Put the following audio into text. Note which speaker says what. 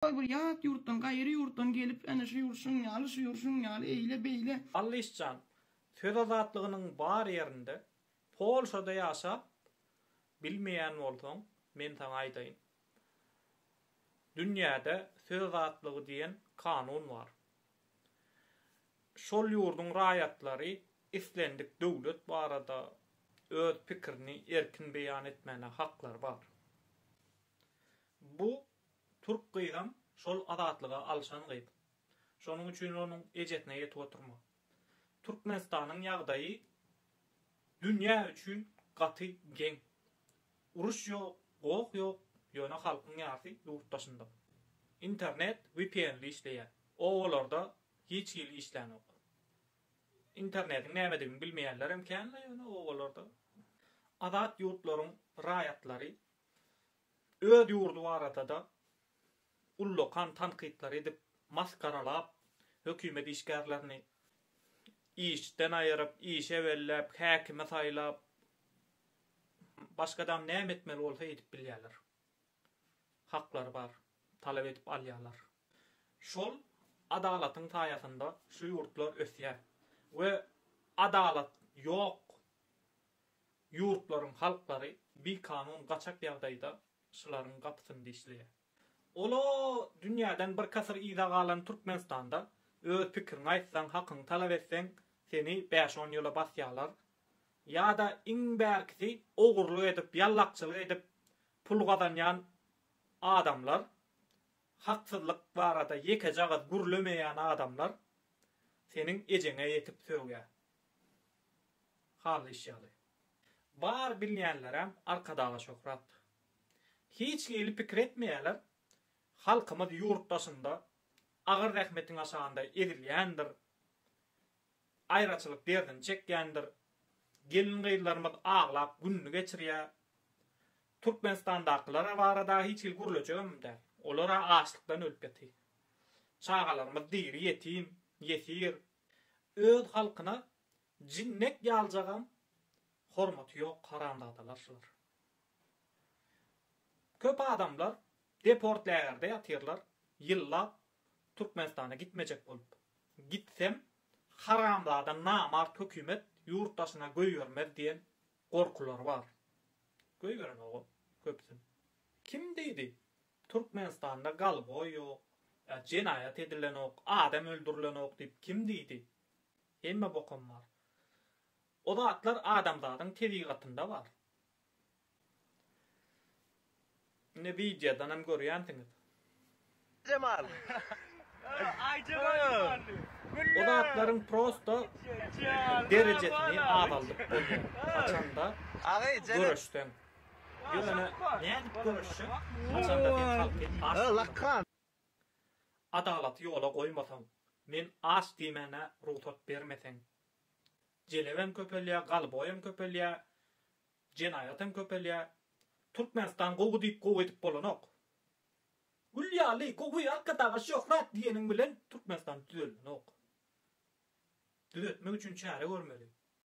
Speaker 1: Goý bir ýat ýurtdan, gaýry ýurtdan gelip, ene şu ýurt şuň ýaly, şu ýurt şuň ýaly, eýle, beýle. Allyş jan,
Speaker 2: söz azatlygynyň bar ýerinde, Polşada ýaşap, bilmeýän bolsaň, men saňa aýdaýyn. Dünýäde söz azatlygy diýen kanun bar. Şol ýurduň raýatlary islendik döwlet barada öz pikirini erkin beýan etmäne haklary bar. Bu Türk gyzam şol azatlyga alşan gyz. Şonuň üçin onuň ejesine ýetip oturma. Türkmenistanyň ýagdaýy dünýä üçin gaty geň. Uruş ýok, goh ýok, ýöne halkyň ýarsy ýurt daşynda. Internet wipienli işleýär. Obalarda hiç hili işlänok. Internetiň nämedigini bilmeýänlerem kän-le ýöne obalarda. Azat ýurtlaryň raýatlary Öz ýurdy barada-da ullakan tankytlar edip, masgaralap, hökümet işgärlerini işden aýyryp, işe belläp, häkimi saýlap, başga adam näme etmeli bolsa edip bilýärler. Haklary bar, talap edip alýarlar. Şol adalatyň saýasynda şu ýurtlar ösýär we adalat ýok. ýurtlaryň halklary bikanun gaçak ýagdaýda şylaryň gapysynda işleýär. Ol-a dünýäden birki asyr yza galan Türkmenistanda öz pikiriňi aýtsaň, hakyňy talap etseň, seni bäş-on ýyla basýarlar. Ýa-da iň bärkisi ogurlyk edip, ýallakçylyk edip pul gazanýan adamlar, haksyzlyk barada ýekeje agyz gürlemeýän adamlar seniň ejeňe ýetip sögýär. Hal iş ýaly. Bar bilýänleräm Arkadaga şöhrat. Hiç hili pikir etmeýäler, halkymyz ýurt daşynda agyr zähmetiň aşagynda ezilýändir, aýraçylyk derdini çekýändir, gelin-gyzlarymyz aglap gününi geçirýä. Türkmenistandakylar barada hiç hili gürlejegem däl. Olar-a açlykdan ölüp ýaty. Çagalarymyz diri ýetim, ýesir, Öz halkyna jinnek ýaljagam hormaty ýok haramzadalar şular. Köp adamlar deport lägerde ýatyrlar ýyllap Türkmenistana gitmejek bolup. Gitsem haramzada namart hökümet ýurt daşyna göýbermez diýen gorkulary bar. Göýberenogam köpüsini. Kim diýdi Türkmenistanda galgoý ýok, jenaýat edilenok, adam öldürilenok diýip kim diýdi? Hemme bokam bar. O zatlar adamzadyň tebigatynda bar. Ine wideodan hem görýänsiňiz.
Speaker 3: Jemal. Aý Jemal Jemally. O
Speaker 2: zatlaryň prosta derejesini azaldyp bolýar. Haçanda göreşseň. Adalaty ýola goýmasaň, men aç diýmäne rugsat bermeseň, jelebem köpelýär, galboýam köpelýär, jenaýatam köpelýär. Türkmenistan gowy diýip gowy edip bolanok. Gül ýaly gowy Arkadaga şöhrat diýeniň bilen Türkmenistan düzeldenok. Düzetmek üçin çäre görmeli.